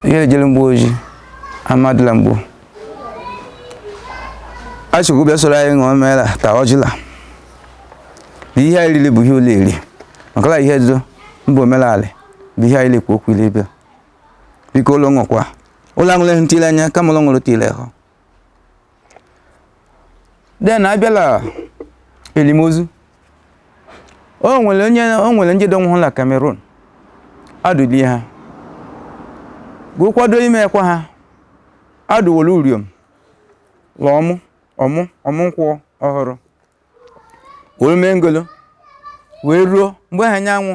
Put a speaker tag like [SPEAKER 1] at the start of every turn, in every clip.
[SPEAKER 1] ihe ejele Mgbo Ojii Amadị la Mgbo Achịkwu bịa soro anyị ṅụọ mee la taa ọjị la na ihe anyị riri bụ ihe ụlọ eri maka la ihe ezo mba omenala bụ ihe anyị le-ekwu okwu ile bịa biko ụlọ ṅụkwa ụlọ aṅụleghị ntị la anya kama ụlọ ṅụrụ ntị la hụ then abịala elimozu o nwere ndị dọnwụhụ na Cameroon adụlie ha gụ kwado ime ekwa ha adụwolu uriom la ọmụ ọmụ ọmụ nkwụ ọhụrụ were mee ngolo wee ruo mgbe ha anyanwụ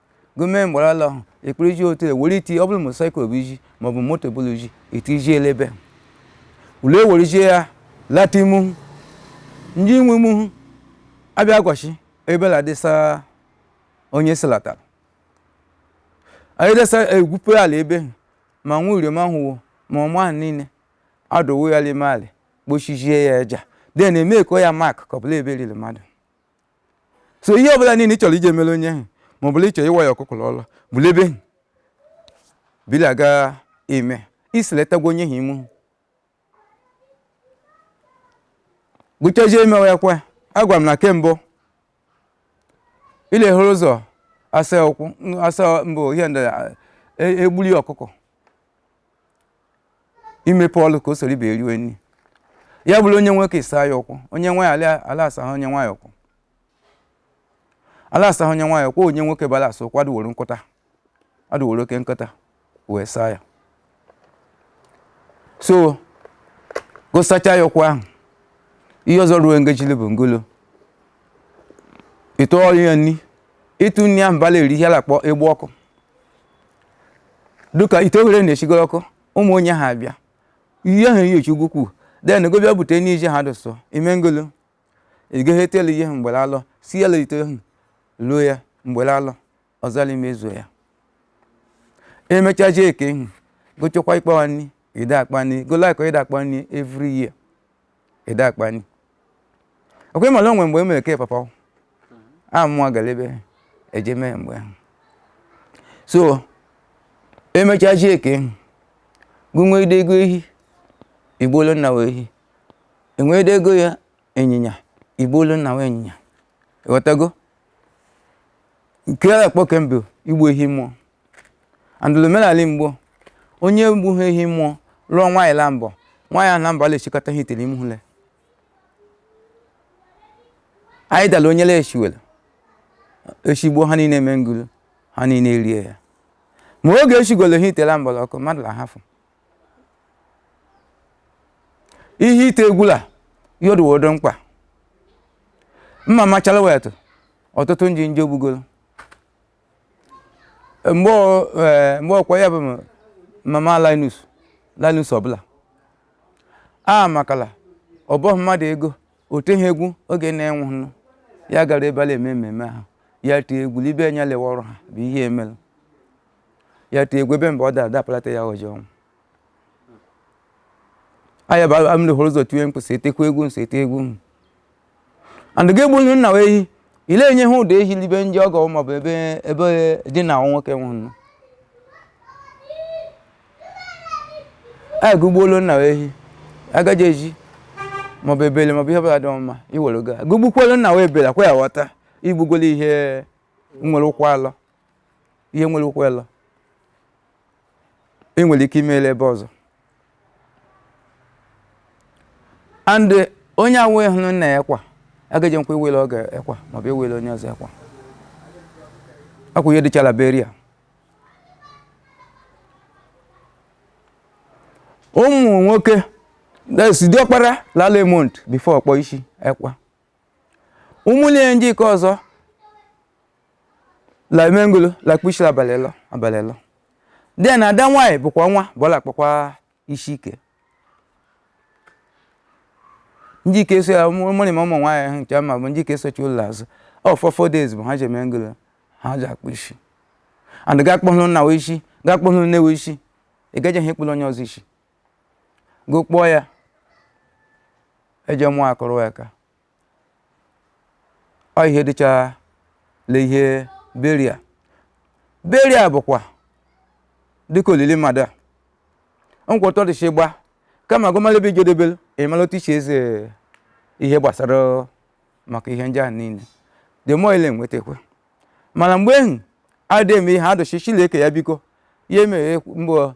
[SPEAKER 1] gome mgbara ala ahụ ekpere iji otu ewere iti ọ bụrụ motorcycle bụ iji maọbụ moto bụrụ iji iti iji elebe ule ewere iji ya lata imu ndị inwe imu abịa gwachi ebela dịsa onye silatara anyị desa egwupụ alị ebe ma nwa uriom ahụwo ma ọmụ ahụ niile adụwo ya l'ime alị kpochijie ya aja then eme ko ya mark ka ọbụla ebe e liri mmadụ so ihe ọbụla niile ị chọrọ iji emere onye ahụ ma ọ bụ la ị chọ ịwa ya ọkụkọ ọlụ bụla ebe ahụ bili aga eme isiletagwa onye ahụ ime gụchazie emewe ya kwa agwa m na kembụ ilehụrụ ụzọ asa ụkwụ asa mbụ ihe ndị egbuli ọkụkọ imepe ọlụ ka o soro ibe eriwe nri ya bụrụ onye nwoke asaa ya ụkwụ onye nwaanyị ala asa ha onye nwaanyị ụkwụ ala asa ha onye nwaanyị ụkwụ onye nwoke bara asa ụkwụ adụworo nkịta adụworo oke nkịta wee saa ya so gụ sachaa ya ụkwụ ahụ ihe ọzọ ruo ngejili bụ ngolo ịtụọrụ ya nri ịtụ nri ahụ bala eri ihe a la-akpọ igbu ọkụ dịka ite oghere na-echigoro ọkụ ụmụ onye ha abịa ihe ahụ iyochi ugwu kwuu then gụ bịa bute n'ije ha dụsọ ime ngolo ịgaghị etelu ihe mgbere alọ si ya lite ahụ luo ya mgbere alọ ọzọla imezuo ya emechazie eke ihu gụ chekwa ikpawa nri ide akpa nri golakọ ide akpa nri every year ide akpa nri ọkwa ị ma la o nwe mgbe emere ke papa a mụọ gara ebe eje mee mgbe ahụ so emechazie ke gụ nweide ego ehi igbuolu nna wee ehi i nweide ego ya ịnyịnya igbuolu nna wee ịnyịnya ị ghọtago nke a akpọ kemgbe igbu ehi mmụọ andụlụ omenala mgbe onye gbughe ehi mmụọ lụọ nwaanyị la mbọ nwaanyị ahụ na mbọ a la-eshikọta ihe itere imu hụle anyị dala onye la eshiwere eshi gbuo ha niile eme ngulu ha niile erie ya ma oge eshigolo ihe ite la mbọrọ ọkụ mmadụ la hafụ ihe ite egwula yodowodo mkpa mma machala wetụ ọtụtụ nji nje ogbugolo mgbe ọ- eh, mgbe ọkwa ya bụ m- mama linus linus ọbụla a makala ọ bụghị mmadụ ego o teghị egwu oge nne nwụnụ ya gara ebe a na-eme mmemme ahụ ya tee egwu libe anya lewe ọrụ ha bụ ihe emere ya tee egwu ebe mgbe ọ dara dapụlata ya ọjọọ ọnwụ anya bụ amụrụ hụrụ ụzọ tiwe mkpu sị etekwa egwu m si ete egwu m and gị egbulu nna wa ehi ile enye ha ụdọ ehi libe ndị ọgọ maọbụ ebe dị na nwoke nwụrụ agụgbuolu nna wa ehi a ga-eji ezi maọbụ ebele maọbụ ihe ọbụla dị mma i were ga gụgbukwuolu nna wa ebele akwa ya ghọta igbugolo ihe nwere ụkwụ alọ ihe nwere ụkwụ alọ i nwere ike imele ebe ọzọ and eh, onye awụhụ nna ya ekwa agaghịkwa iwele ọgọ ekwa maọbụ iwele onye ọzọ ekwa ọ kwa ihe dịcha la burial ụmụ nwoke that's diọkpara la-alọ month before ọ kpụọ isi ekwa ụmụnne ya ndị ke ọzọ la eme ngulu la-akpụ isi la abalị ịlọ abalị ịlọ then ada nwaanyị bụkwa nwa ọbụla akpụkwa isi ke ndị ke so ya mụrị ma ụmụ nwaanyị ahụ nke ma bụ ndị ke sochili azụ ọ for four days bụ ha ji eme ngulu ha ji akpụ isi and ga akpụhụrụ nna wa isi ga akpụhụrụ nne wa isi ị gaghị ha ekpụrụ onye ọzọ isi gụ kpụọ ya eje mmụọ akụrụ ya ka ọ ihe dịcha le ihe burial burial bụkwa dịka olili mmadụ a nkwụtọ dịcha ịgba kama a gụ mala ebe i jedebelu ịmala otu i shi eze ihe gbasara maka ihe ndị a niile the more ile nwetakwa mana mgbe ahụ adịghị eme ihe adụchi chileke ya biko ya emeghe mgbe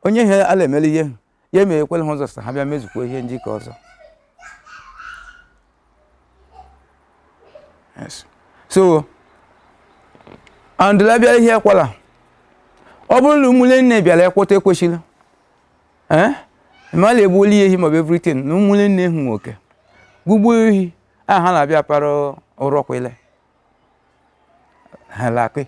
[SPEAKER 1] onye ihe ala emela ihe ya emeghekwela ha ụzọ sị ha bịa mezukwa ihe ndị ke ọzọ Yes. so andụla bịara ihe ekwala ọ bụrụ na ụmụnne nne bịara ekweta ekwesịla ee mmadụ egbuola ya ehi maọbụ everything na ụmụnne nne hụ nwoke gụgbuo ehi a ha na-abịa para ụrọkwele ha lakị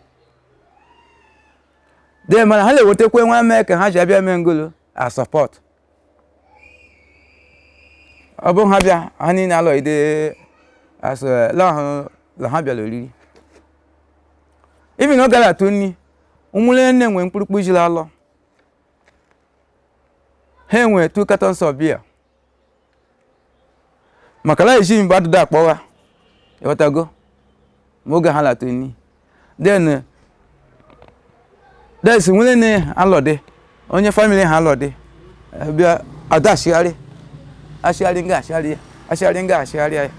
[SPEAKER 1] then mana ha na-ewetakwa nwa mee ka ha ji abịa mee ngolo a support ọ bụrụ ha bịa ha niile alọghide asụ lahụ la ha bịara oriri even ọ gara atụ nri ụmụnne nne nwee mkpụrụkpụ jiri alọ ha enwe two cartons of beer maka na eji mgbe adịda akpọgha ịghọtago ma oge ha la-atụ nri then that's nwere na alọdị onye family ha alọdị eh, bịa ada achịgharị achịgharị nga achịgharị ya achịgharị nga achịgharị ya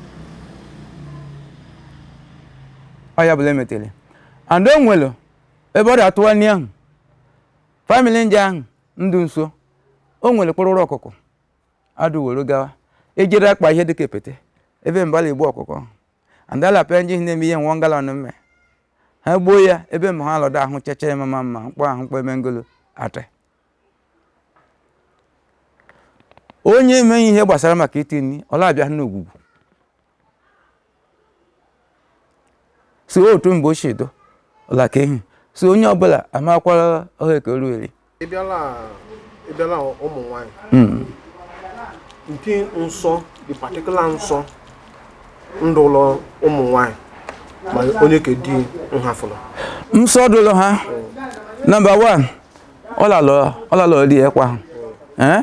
[SPEAKER 1] ọ ya bụ la emetere and o nwere ebe ọ dị atụwa nri ahụ family ndị ahụ ndụ nso o nwere kpụrụrụ ọkụkọ adụ were gawa ejere akpa ihe dịka epete ebe mbala igbu ọkụkọ andala pịa nji na-eme ihe nwa ngala mme ha gbuo ya ebe mma ha alọdọ ahụ checha ya mama mma mkpọ ahụ mkpọ eme ngolo ate onye emeghị ihe gbasara maka iti nri ọ la-abịa n'ogwugwu so otu mgbe ochie dụ ọla ka ehi so onye ọbụla amakwara ọha ekeru eri ị bịala
[SPEAKER 2] ị bịala ụmụ nwanyị nke nsọ the particular nsọ ndụ ụlọ ụmụ nwanyị ma onye ka di nhafụrụ nsọ dụlụ
[SPEAKER 1] ha number one ọ la-alọ ọ la-alọ di ekwa ahụ ee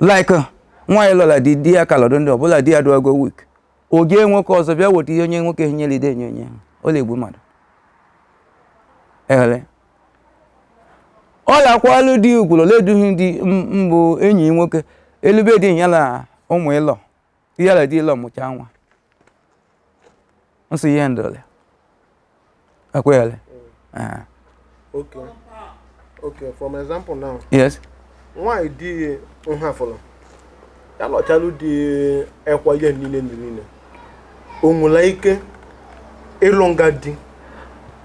[SPEAKER 1] like nwaanyị lụla di di ya ka lọdụ ndụ ọ bụ la di ya dụago weak o jee nwoke ọzọ bịa weta ihe onye nwoke nyere ide enye onye ọ la-egbu mmadụ ele ọ lakwalụ di ukwuru leduhi di mbụ enyi nwoke elube di ya na ụmụ ilo ya la di ilo mụchaa nwa nsọ ihe ndole akwele eh okay
[SPEAKER 2] okay from example now yes
[SPEAKER 1] nwaanyị di
[SPEAKER 2] nhafụrụ ya lọchalụ di ekwa ihe niile ndị niile o nwela ike ịlụ nga di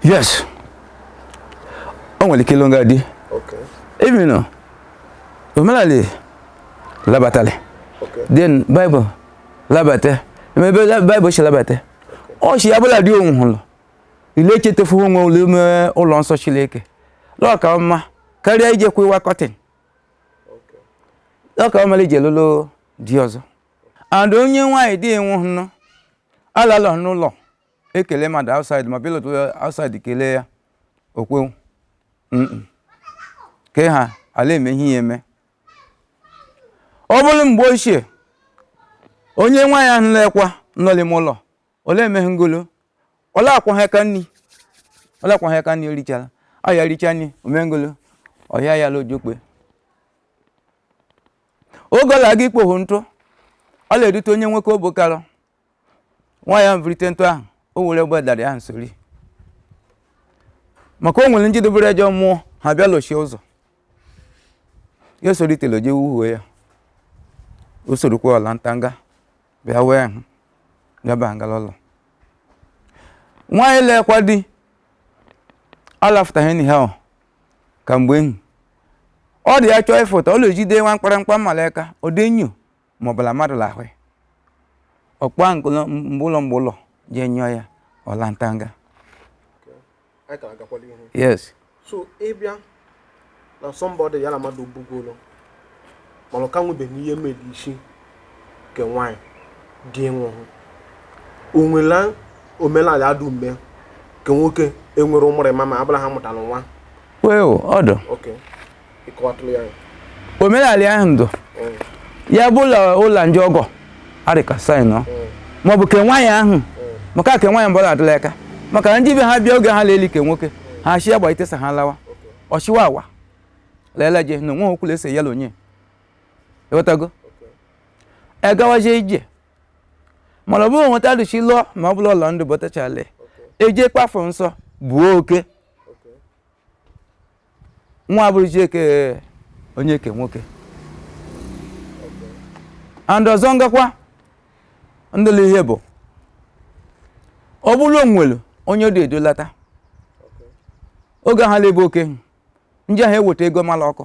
[SPEAKER 2] yes
[SPEAKER 1] o nwere ike ịlụ nga di okay
[SPEAKER 2] even
[SPEAKER 1] omenala
[SPEAKER 2] labatali then
[SPEAKER 1] Bible labata maybe Bible si labata ọ sị ya bụ la di nwụhụrụ ile echetefu onwe ụlọ ime ụlọ nsọ chineke lọka mma karịa ije kwa ịwa kọtịn lọka mma ije lụlụ di ọzọ and onye nwaanyị di nwụhụrụ alalọ n'ụlọ ekele mmadụ outside ma pilot outside kelee ya okwewu ka ha la-eme ihe ya eme ọ bụrụ mgbe ochie onye nwaanyị ahụ la-ekwa nọ lime ụlọ ọ la emeghe ngolo ọ la-akwọghị aka nri ọ la-akwọghị aka nri o richara ọ ya richa nri omengolo ọhịa ya lojokpe ọ gala ga ikpohu ntụ ọ na-edute onye nwoke obi kara nwaanyị ahụ birite ntụ ahụ o were egbe darị ahụ sori maka o nwere ndị dobere ejọ mmụọ ha bịa lochie ụzọ ya solitere jee wuhuo ya o sorokwa ọla ntanga bịa wee hụ bịa ba ngala ụlọ nwaanyị la-ekwa di alafụtaghị enyi ha ọ ka mgbe enyi ọ dị ya chọọ ịfụta ọ na-ejide nwa mkparamkpa mma la aka ọ dị enyo ma ọ bụ la mmadụ la-ahụ ọkpụa mgbe ụlọ mgbe ụlọ jee nyụọ ya ọla
[SPEAKER 2] ntanga yes so
[SPEAKER 1] ị
[SPEAKER 2] bịa na somebody ya na mmadụ bugolo mana ọ ka nwebeghị ihe mere isi nke nwaanyị di nwụhụ o nwela omenala adụ mgbe nke nwoke enwere ụmụrịma ma ọ bụ la ha mụtara nwa well ọ
[SPEAKER 1] dụ okay
[SPEAKER 2] ị kọwatụrụ ya omenala
[SPEAKER 1] ahụ dụ ya bụ ụlọ ndị ọgọ arịka saị nọ ma ọ bụ ke nwaanyị ahụ maka ke nwaanyị mbọla adịla aka maka na ndị be ha bịa oge ha la-eli ke nwoke ha chi ya gba itesa ha lawa ọchịwa awa leele je na onwe ha okwu la ese ya la onye ị ghọtago egawazie ije mana ọ bụrụ nwata dịchi lụọ ma ọ bụla ụlọ ndụ bọtachale eje kpafụ nsọ buo oke nwa bụrụ chieke onye ke nwoke and ọzọ ngakwa ndụlụ ihe bụ ọ bụrụ la o nwelu onye dị edulata oge ha la-ebu oke ndị ahụ eweta ego mala ọkụ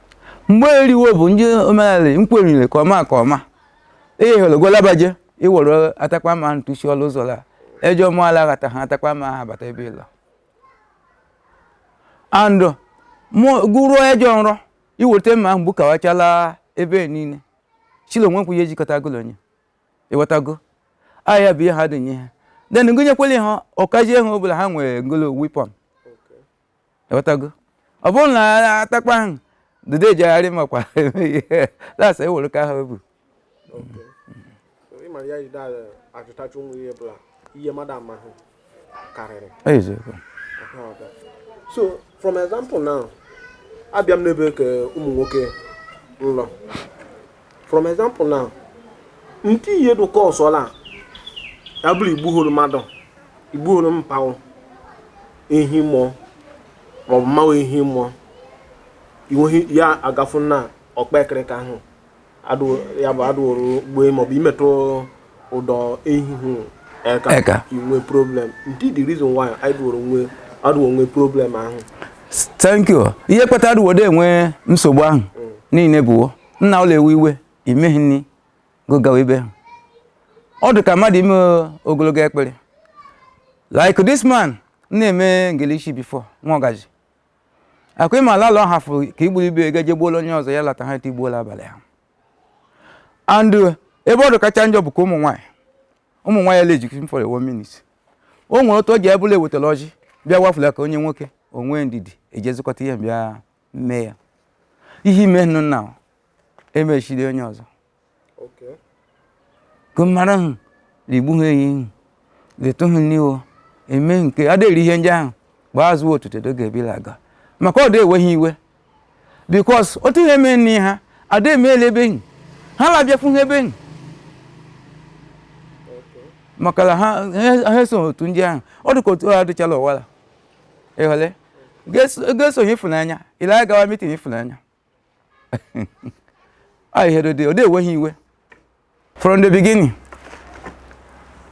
[SPEAKER 1] mgbe eriwo bụ ndị omenala nkwerire ka ọma ka ọma ihe hụrụ gwalabaje i were atakpa ma ntụsi ọlụ ụzọ la ejọ mmụọ ala ghata ha atakpa ma ha bata ebe ị lọ and gụruo ejọ nrọ i weta mma ahụ gbukawachala ebe niile chilo nwekwụ ihe jikọta gụ la onye ị ghọtago ahịa bụ ihe ha dị nye ha then gụnyekwala ha ọkaji ihe ọ bụla ha nwere ngolo weapon ị ghọtago ọ bụrụ na atakpa ahụ dede ejegharị makwa that's e were ka ha ebu
[SPEAKER 2] eziokwu so from example now abịa m n'ebe ke ụmụ nwoke nlọ from example now nke ihe dụka ọsọla ya bụrụ igbuhoro mmadụ igbuhoro mpa ghụ ehi mmụọ maọbụ mma ghụ ehi mmụọ inweghị ya agafu na ọkpa ekirika ahụ adụ- ya bụ adụrụ gbue maọbụ imetụ ụdọ ehi hụ eka inwe problem nke the reason why anyị dụrụ nwe adụrụ nwe problem ahụ thank you
[SPEAKER 1] ihe kpatara uwode enwe nsogbu ahụ niile bụ nna ụlọ ewe iwe imeghị nni gogawa ibe ha ọ dị ka mmadụ ime ogologo ekpere like this man na-eme ngilishi before nwa ọgaji akwa ịma ala ọ hafụrụ ka igburu ibe ga jegbuola onye ọzọ ya lata ha tigbuola abalị ha and ebe ọ dị kacha njọ bụ ka ụmụ nwaanyị ụmụ nwaanyị ele ejikiri for one minute o nwere otu ọ ji ebụla ewetara ọjị bịa wafula ka onye nwoke onwe ndidi eji ezikọta ihe bịa mee ya ihe imenụ na emechiri onye ọzọ gụmara hụ rigbu ha ehi hụ detụ hụ n'iwo eme nke adịghị ihe ndị ahụ gbaa azụ otuto do ga-ebila aga maka ọ dị enweghị iwe because otu ihe mee nne ha ada emeela ebe enyi ha labịafụ ha ebe enyi maka na ha ha eso otu ndị ahụ ọ dị ka otu ha adịchala ọwara ịhụle ga-esonye ịfụnanya ile anyị gawa meeting ịfụnanya ọ ihere dị ode enweghị iwe from the beginning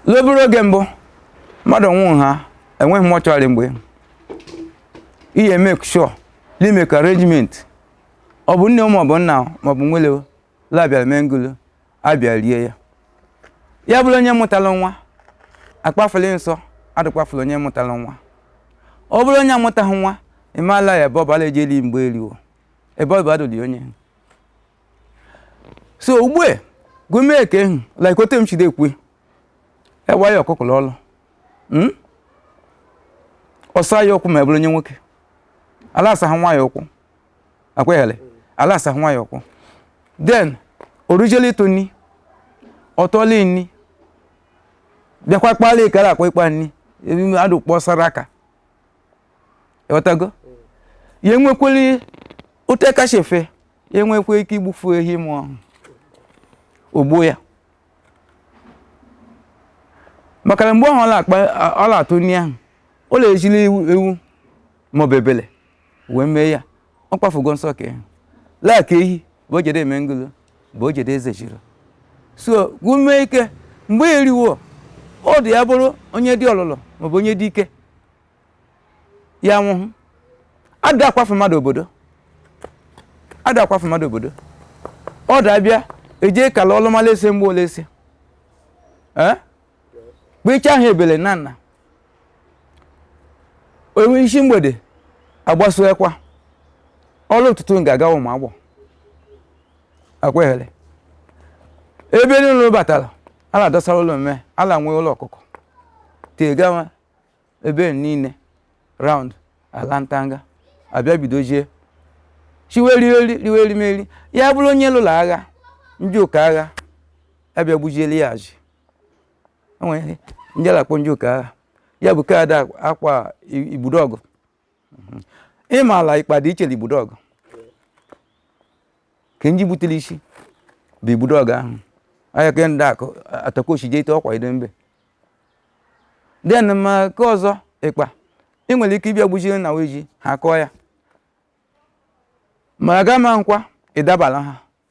[SPEAKER 1] la ọ bụrụ oge mbụ mmadụ nwụrụ ha enweghị mortuary mgbe ihe make sure na i make arrangement ọ bụ nne maọbụ nna maọbụ nwelewo la bịara mee ngulu a bịa rie ya ya bụrụ onye mụtara nwa akpafuli nsọ adụkpafula onye mụtara nwa ọ bụrụ onye amụtaghị nwa ịmala ya ebe ọ bara eje eri mgbe eriwo ebe ọ bụ adụli onye so ugbu a gụmee ka ehu like ote m chide ekwe ewa ya ọkụkụrụ ọlụ hmm? ọsa ya ụkwụ ma ọ bụrụ onye nwoke ala asaghị nwa ya ụkwụ akweghere ala asaghị nwa ya ụkwụ then orujele ịtụ nni ọtọla nni bịakwa kpala ikara akwa ịkpa nni adụ kpọsara aka ịghọtago ya enwekweli ote kacha efe ya enwekwa ike igbufu ehi mmụọ ahụ ogbuo ya maka na mgbe ahụ ọ na-akpa- ọ la-atụ nni ahụ ọ le-ejili ewu ewu maọbụ ebele wee mee ya ọ kwafugo nsọ ka ehi laa ka ehi bụ ojede mengulu bụ ojede eze jiri so gume ike mgbe eriwo ọ dị ya bụrụ onye dị ọlụlụ maọbụ onye dị ike ya nwụhụ ada akwafu mmadụ obodo ada akwafu mmadụ obodo ọ dị abịa eji kala ọlụmala ese mgbe ole ese ee kpecha ahụ ebele na nna o nwee isi mgbede agbasuekwa ọrụ ụtụtụ ga-aga ụmụ agbọ akwehere ebe niile batara ala dọsara ụlọ mme ala nwee ụlọ ọkụkọ tegawa ebe niile round ala ntanga abịa bidozie shiwe riweri riwe erimeri ya bụrụ onye lụrụ agha ndị ụka agha abịa gbujieli ya ji o nwe ndị a la-akpọ njuka agha ya bụ kaadị akwa- akwa i- igbudo ọgụ Mhm. ịmala ikpa dị iche na igbudo ọgụ ke nji butere isi bụ igbudo ọgụ ahụ ahịa ka ndị akụ atakochi jee ite ọkwa ido mbe then ma ka ọzọ ịkpa ị nwere ike ịbịa gbuchie na weji ha kụọ ya ma aga ma nkwa ịdabala ha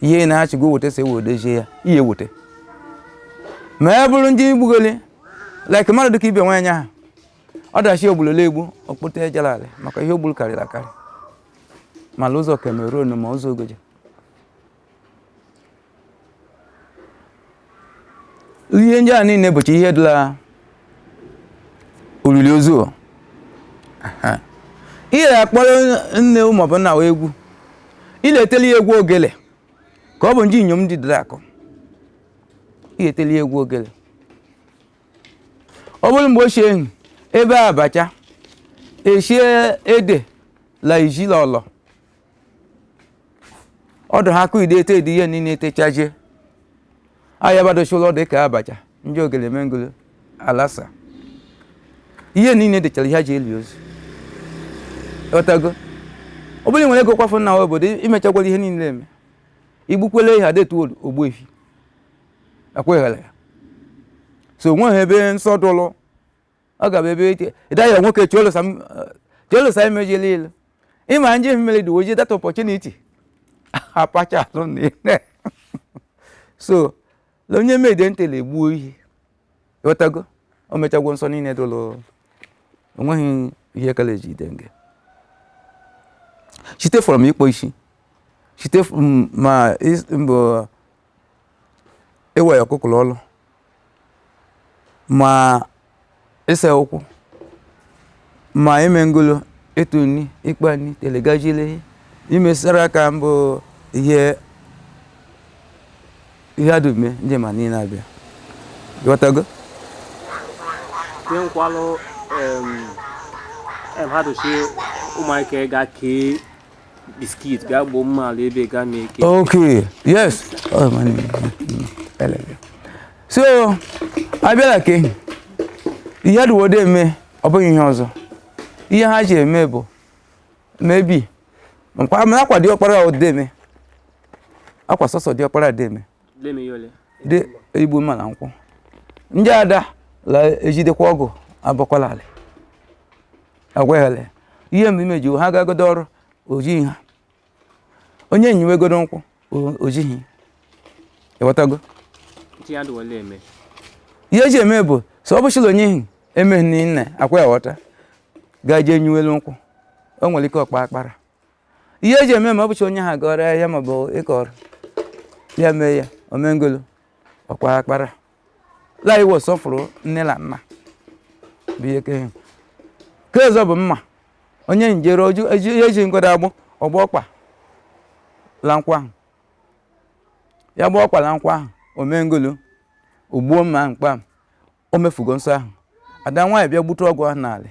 [SPEAKER 1] ihe na-achị gị weta si ewe dozie ya ihe weta ma ọ bụrụ ndị gbugoli like mmadụ dịka ibe nwaanyị ahụ ọdachi ogbulole egbu okpụta ejelalị maka ihe o gbulu karịrị akarị mala ụzọ Cameroon ma ụzọ Ogoja ihe ndị a niile bụcha ihe dị la olili ozu ihe ya akpọrọ nne maọbụ nna wa egwu ị la-eteli ya egwu ogele ka ọ bụ ndị inyom ndị dịrị akụ ị la-eteli ya egwu ogele ọ bụrụ mgbe ochie ehi ebee abacha eshie ede la iji la ọlọ ọdụ ha akụ ide ete dị ihe niile etechazie ahịa badochụlọ dị ka abacha ndị ogele mengulu alasa ihe niile dịchara ihe ji eli ozu ghọtago ọ bụrụ nwere ego kwafu na obodo imechagwara ihe niile eme igbukwele ehi adetu ogbuehi akweghara ya so onweghị ebe nsọ dụlụ ọ ga-abụ ebe ịda ya nwoke chụolosa emejila ilu ịma nje mmiri dị o ji that opportunity apacha alụ na ile so na onye mede ntị na-egbuo ehi ị ghọtago o mechagwo nsọ niile dụlụ onweghị ihe kala eji ide nge site from ikpo isi site from ma is- mbụ ịwa ya ọkụkọ la ọlụ ma ịsa ụkwụ ma ime ngolo ịtụ nri ịkpa nri telegajile imesara aka mbụ ihe ihe adume ndị ma niile abịa
[SPEAKER 3] ghọtago nkwalụ mmadụ si ụmụaka ga kee Biskit,
[SPEAKER 1] bịa gbuo mma ala ebe gaa mee ike. Okay, yes. Oh, my name. So, abịala ke ihe ha dụwode eme ọ bụghị ihe ọzọ. Ihe ha ji eme bụ maybe akwa diọkpara o deme akwa sọsọ diọkpara deme dị igbu mma la nkwụ ndị ada la ejidekwa ọgụ abọkwala ala agwaghịla ihe mgbe imeji ha gagodo ọrụ ojighị ha onye nyiwegodo nkwụ ojighị ịghọtago ihe eji eme bụ so ọ bụchi la onye ihi emeghị nne akwa ya ghọta gaa jee nyiwe elu nkwụ o nwere ike ọ kpa akpara ihe eji eme ma ọ bụcha onye ha gọrọ ya maọbụ ịkọrọ ya mee ya o me ngolo ọ kpa akpara la inwe nsọfụrụ nne na nna bụ ihe kehe nke ọzọ bụ mma onye njere oju eji ihe eji ngodo agbụ ọ gba ọkpa la nkwụ ahụ ya gba ọkpa la nkwụ ahụ o me ngolo o gbuo mma ahụ kpam o mefugo nsọ ahụ ada nwaanyị bịa gbute ọgụ ahụ n'alị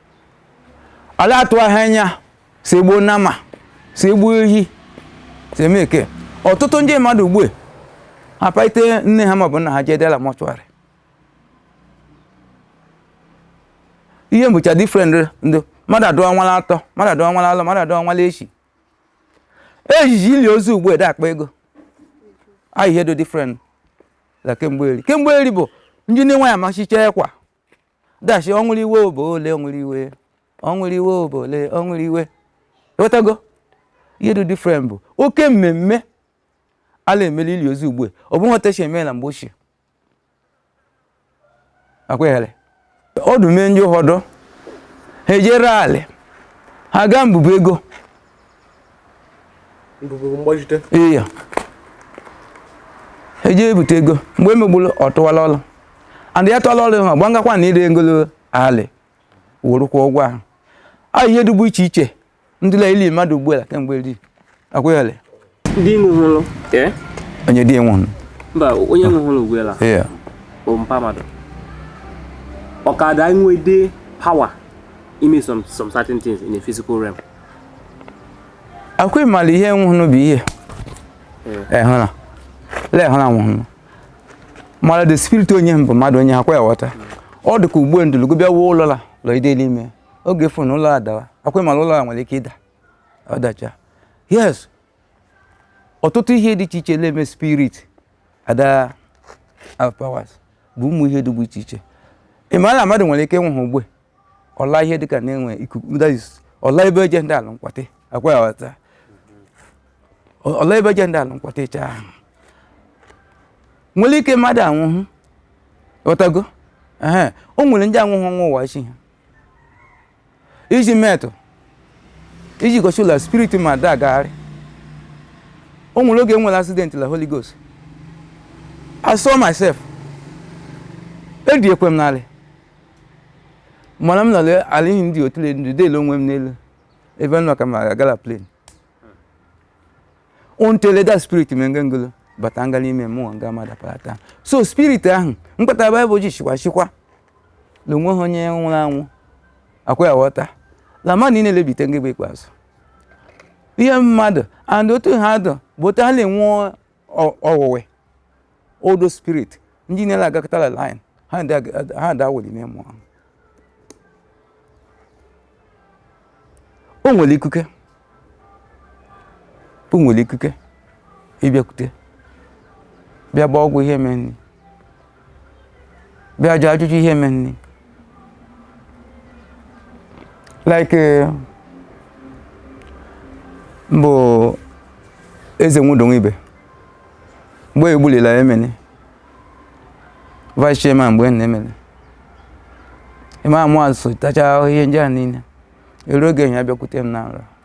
[SPEAKER 1] ala atụ ahụ anya sị e gbuo nama sị e gbuo ehi sị e mee eke ọtụtụ ndị mmadụ ugbu a ha paite nne ha maọbụ nna ha jee de la mortuary ihe bụcha different ndụ mmadụ adụ ọnwa la atọ mmadụ adụ ọnwa la alọ mmadụ adụ ọnwa la ishii ejiji ili ozu ugbu ede akpa ego ahụ ihe dụ different la kemgbe eri kemgbe eri bụ ndị na-enweghị amachicha ekwa dashi ọ nwụrụ iwe obo ole ọ nwụrụ iwe ọ nwụrụ iwe obo ole ọ nwụrụ iwe ị ghọtago ihe dị different bụ oke mmemme a la-eme la ili ozu ugbu a ọ bụghị otu esi eme na mgbe ochie akweghere ọdụ mee ndị ụfọdụ ha ejiri alị ha gaa mbụbụ ego iya eji ebute ego mgbe emegburu ọ tụwala ọrụ and ya tụọla ọrụ ha gbangakwa na ire ngolo alị werụ kwụọ ụgwọ ahụ a ihe dịbụ iche iche dị la ili mmadụ ugbu a kemgbe eri akwụghịlị Ndị
[SPEAKER 3] nwụhụrụ. Ee?
[SPEAKER 1] onye di nwụrụ Mba, onye
[SPEAKER 3] nwụhụrụ ugbu a iya bụ mpa mmadụ. Ọ ka da nwede power ime some some certain things in a physical realm.
[SPEAKER 1] akwa ịmara ihe nwụhụrụ bụ ihe ehụna le ehụna nwụhụrụ mara the spirit onye m bụ mmadụ onye akwa ya ghọta ọ dị ka ugbu ndụlụgo bịa wuo ụlọ la lọ ide n'ime oge fụ na ụlọ a dawa akwa ịmara ụlọ a nwere ike ịda ọ dacha yes ọtụtụ ihe dị iche iche na-eme spirit ada have powers bụ ụmụ ihe dịgbu iche iche ị ma na mmadụ nwere ike ịnwụ ha ugbu ọla ihe dịka na-enwe ikuku that is, ọla ebe eje ndị ala nkwatị akwa ya ghọta ọla ebe eje ndị ala nkwatị ịcha ahụ nwere ike mmadụ anwụhụ ghọtago ehe o nwere ndị anwụhụ ọnwụ ụwa chi ha iji metụ iji gosi la spirit mmadụ agagharị o nwere oge nwere accident la holy ghost i saw myself ediekwe m n'alị mana m nọrọ ala ihe ndị otu ndu dele onwe m n'elu ebe m nọ ka m agala plane until the spirit me nga ngolo bata nga n'ime mmụọ nga mmadụ apara taa so spirit ahụ mkpata baịbụl ji chịkwa chịkwa na o nwehọ onye nwụrụ anwụ akwa ya ghọta la mmadụ niile lebite mgbe ikpeazụ ihe mmadụ and otu ha dụ bụ otu ha na-enwe ọwụwe odo spirit ndị niile agakọtala line ha da awụli n'ime mmụọ o nwere ikuke o nwere ikuke ịbịakwute bịa gba ọgwụ ihe meeni bịa jụọ ajụjụ ihe mereni like eh, mbụ eze nwudonwe ibe mgbe egbulila emene vice chairman mgbe na emene ịma amụ asụ tacha ihe ndị a niile eru oge enyi abịakwute m na nrọ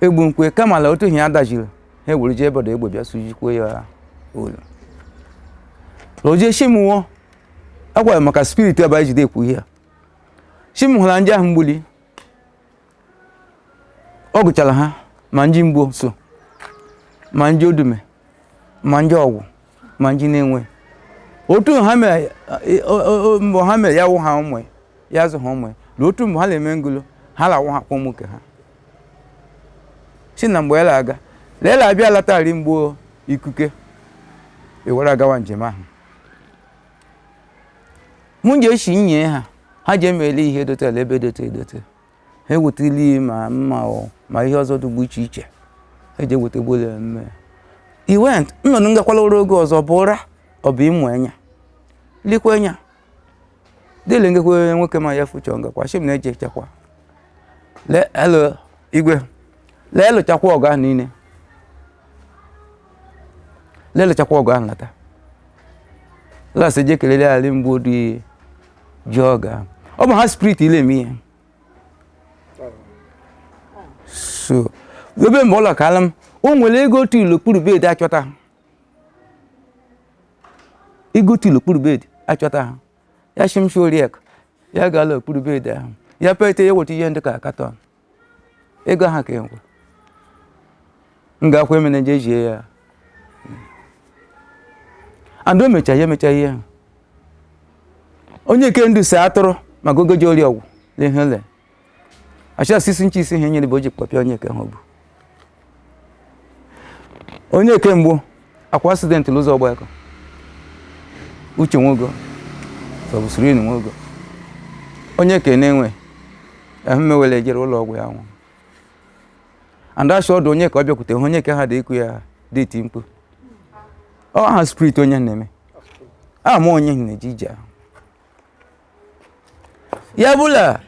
[SPEAKER 1] egbu nkwe kama na otu ihe ya dajiri ha ewere jee ebe ọdọ egbe bịa sujikwe ya olu oje shi mụ agwara maka spirit ebe anyị jide ekwu ihe a shi m hụla ndị ahụ gbulu ọ gụchara ha ma ndị mgbọ so ma ndị odume ma ndị ọgwụ ma ndị na-enwe otu ha mere e- o- o- o- mgbe ha mere ya wụ ha ụmụ ya, ya zụ ha ụmụ ya na otu mgbe ha na-eme ngolo ha lawụ ha kpọm nke ha si na mgbe e la-aga le e la-abịa latari mgbọ ikuke ewere agawa njem ahụ mụ ji esi nye ha ha ji emeli ihe dotere ebe dote edote ha eweta ili ma mma ọ ma ihe ọzọ dịgbu iche iche eji eweta gbole mme i went nnọdụ ngakwala ụra oge ọzọ bụ ụra ọ bụ ịmụ enya likwa enya dịle ngekwe nwoke ma ya fuchọ ngakwa shi m na-eji echekwa lee elu igwe lee lụchakwa ọgụ ahụ niile lee lụchakwa ọgụ ahụ lata lasị je kelele ali mgbe odi ji ọ ga ọ bụ ha spirit le eme ihe so ebe mgbe ụlọ ka ala m o nwere ego otu i l'okpuru bed achọta ha ego otu i l'okpuru bed achọta ha ya shi m shi oriak ya gaa la okpuru bed ahụ ya pete ya weta ihe dị ka carton ego ahụ ka enwe m ga-akwa emena je jie ya and o mecha ya emecha ihe ahụ onye nke ndụ si atụrụ ma gogoji ori ọgwụ lehele achasisi nche isi ihe nyere bụ o ji kpọpịa onye nke ha bụ onye ke mgbu akwa accident n'ụzọ ọgbakọ uche nwogo sọbụsiri inu nwogo onye ka na-enwe ahụ mewele jere ụlọ ọgwụ ya nwụ and asha ọdụ onye ka ọ bịakwute hụ onye ka ha dị ikwu ya dị iti mkpu ọ ha spirit onye na-eme ama onye na-eje ije ahụ ya bụ la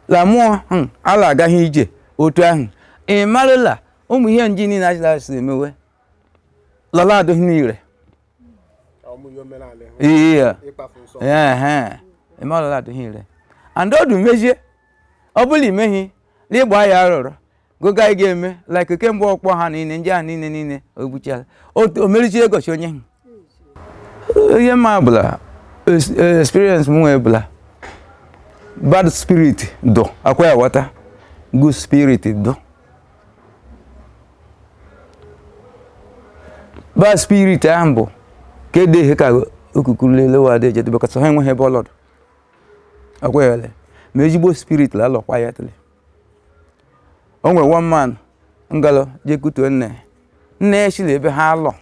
[SPEAKER 1] la mmụọ hmm, ala agaghị ije otu ahụ ị marụ la ụmụ ihe nji niile ajila si emewe lala adịghị n'ire iya ị marụ la adịghị ire and ọdụ mezie ọ bụla imeghi n'ịgba ya arụrụ gogo anyị ga-eme like kemgbe ọkpọ ha niile ndị ahụ niile niile o gbuchala o merichi egoshi onye ahụ ihe m ma bụ la experience m nwee bụ la bad spirit dụ akwa ya wata good spirit dụ bad spirit ahụ bụ ka ede ihe ka okukuru lelewa adị ejedebe kọta ha enweghị ebe ọlọdụ akwa ya ole ma ezigbo spirit la alọkwa ya tele o nwere one man ngalụ jekutuo nne nne ya shi la ebe ha lọ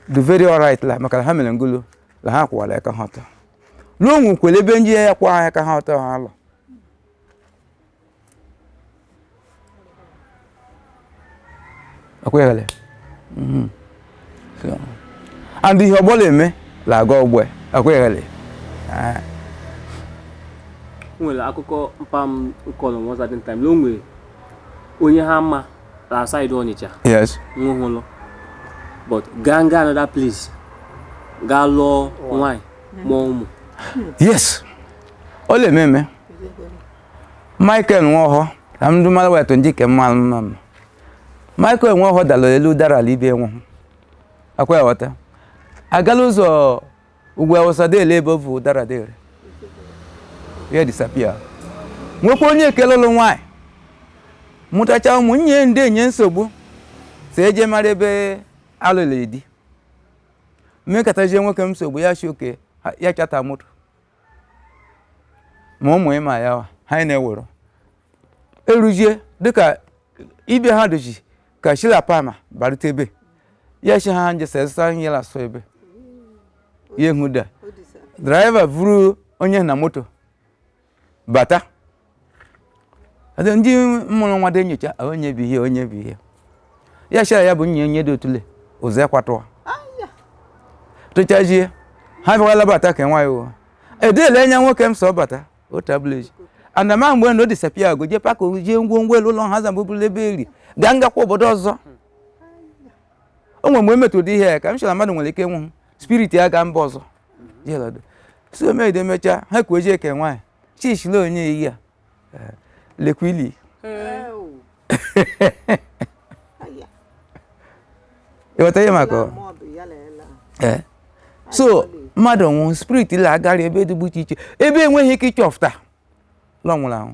[SPEAKER 1] dụ very alright la maka la ha mere ngulu la ha kwụwara aka ha ọtọ la o nwekwere ebe ndị ya akwụha aka ha ọtọ ha lọ ekweghele mhm. and ihe ọgbọla eme la aga ọgbọ ekweghele ah.
[SPEAKER 3] nwere akụkọ mpa m kọlụ one certain time la o nwere onye ha ma la side ọnịcha nwụhụlụ but gaa nga another place gaa lụọ nwanyị mụọ ụmụ yes
[SPEAKER 1] ọ le-eme eme Michael Nwaohọ ka m dumara wetu ndị ke mmalụ mma mma Michael Nwaohọ dara elu dara ala ibe nwụhụ akwa ghọta agala ụzọ ugwu awụsa dele ebe ovu dara dere ya disappear nwekwa onye ekele ụlụ nwaanyị mụtacha ụmụ nye ndị enye nsogbu si eje mara ebe alụlụ di mekatazie nwoke m nsogbu ya shi oke ya charter moto ma ụmụ ịma ya wa ha na-ewere eruzie dịka ibe ha doji ka shila pama barute ebe ya shi ha nje sesa ihe la so ebe ya ehu da driver vuru onye na moto bata Ada ndị mụrụ nwa dị enyocha "Ah, onye bụ ihe onye bụ ihe ya chara ya bụ nye onye dị otule ụzọ ya kwatụwa tụchazie ha bịawala bata ka nwa ya ụwa edele anya nwoke m sọ bata otableji andama mgbe na o disappear go je paka jee ngwongwo elu ụlọ ha zamba obulu ebe eri gaa ngakwa obodo ọzọ o nwere mgbe emetụ ụdị ihe ya ka m chọrọ na mmadụ nwere ike nwụ spirit ya gaa mba ọzọ jelado so mede emechaa ha kwuo jee ke nwaanyị chishile onye iyi a eh, lekwa ili ị ghọta ihe m akọ? Eh. so mmadụ nwụrụ spirit la agara ebe dịgbu iche iche ebe enweghị ike ịchọfụta lọ nwụrụ anwụ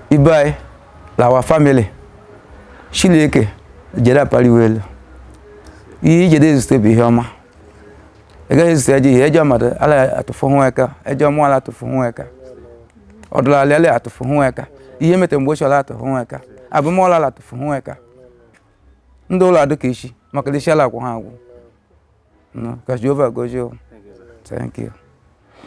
[SPEAKER 1] ibe anyị na our family Chileke jede apariwe elu ihe i jede ezute bụ ihe ọma ị gaghị ezute ejọ ihe ejọ mmadụ ala atụfụ hụ eka ejọ mmụọ ala atụfụ hụ eka ọdụlalị ala atụfụ hụ eka ihe mete mgbe ochie ala atụfụ hụ eka abụmọla ala atụfụ hụ eka ndị ụlọ adụ ka ishi maka ishi ala akwụ ha agwụ No, ka jehova gozie o. thank you